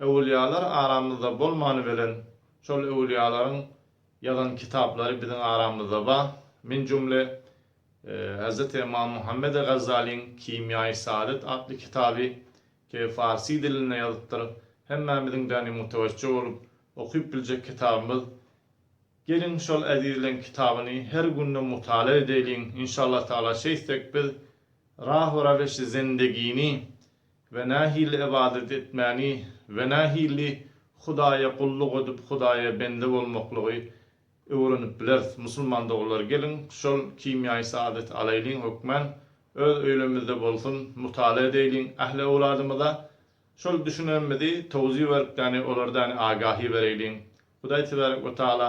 Öwülýalar aramyzda bolmany bilen, şol öwülýalaryň ýazan kitaplary biziň aramyzda bar. Men jümle Hezreti Ymam Muhammedi Gazzalyň Kimýaýy Saadet atly kitaby ke farsy dilinde ýazypdyr. Hemmämiziň däne mütewejje bolup okyp biljek kitabymyz. Geliň şol ezizleň kitabyny her günde mutala edeýliň. Inşallah Taala şeýtsek biz Rahu Raweşi Zendegini we nähili ybadat etmäni we nähili Hudaýa gulluk edip Hudaýa bende bolmaklygy öwrenip bileris. Musulman doganlar geliň şol kimýaýy saadet alaýlyň hökmän öz öýlemizde bolsun mutala edeýliň ähli öwladymyza şol düşünenmizi towzi berip däni olardäni agahi bereýliň Hudaý tebarek we taala